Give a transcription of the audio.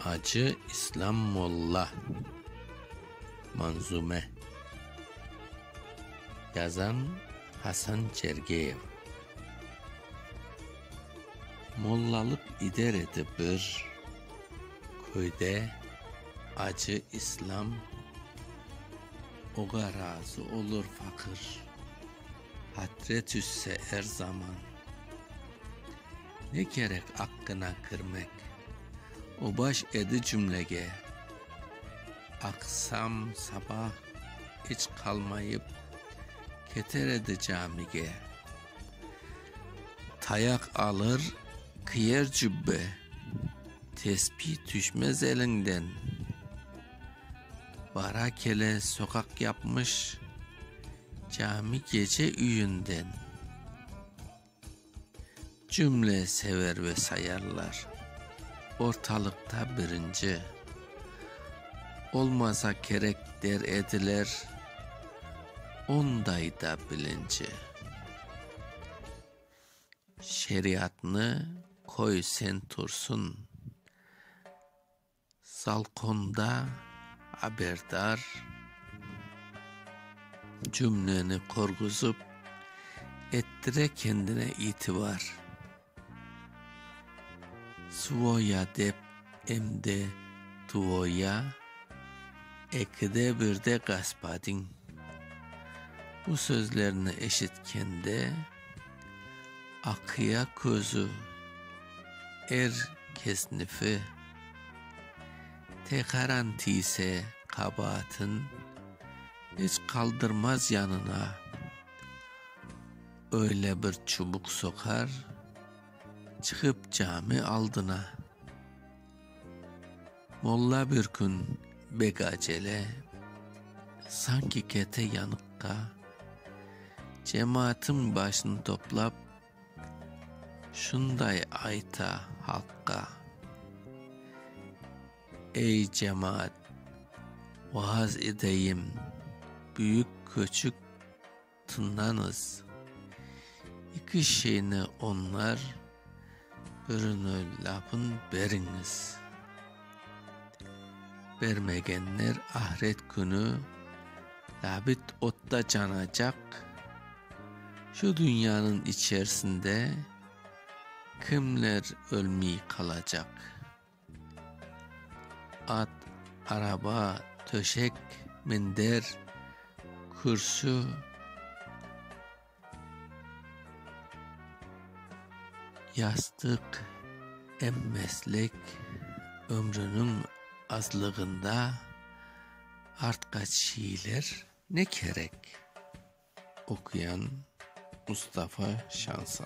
Acı İslâm Molla Manzume Yazan, Hasan Çergeyev Mollalıq ider edi bir köyde Acı İslâm Oğa razı olur faqır Hatre tüşse er zaman Ne kerek aqqına kirmek. O baş edi cümlege. Aqsam, sabah iç qalmayıp. Keter edi camige. Tayaq alır, kiyer cübbe. Tesbih tüşmez elinden. Bara kele soqaq yapmış. Cami gece üyünden. Cümle sever ve sayarlar. Ortalıqta birinci. Olmasa kerek der ediler. Onday da bilinci. Şeriatnı qoy sen tursun. Salqonda aberdar cümleni qurğuzıp, ettire kendine itibar. Svoya dep em de tvoya, ekide bir de gospodin. Bu sözlerni eşitkende, aqıya közü er kesnifi. Tekaran tiyse qabaatın, iç qaldırmaz yanına. Öyle bir çubuq soqar, çıqıp cami aldına. Molla bir kün bek acele, sanki kete yanıqqa. Cemaatıñ başını toplap, Şunday ayta halqqa, Ey, cemaat, vaaz edeyim, büyük köçük tıññañız, İki şeyni oñar, birini lâpın beriñiz. bermegenler ahiret künü labit otta canacaq, şu dünyanıñ içersinde kimler ölmey qalacaq. At, araba, töşek, minder, kürsü. Yastıq, em meslek ömrüniñ azlığında artqa çiyilir. Ne kerek? Okuyan Mustafa Şansal.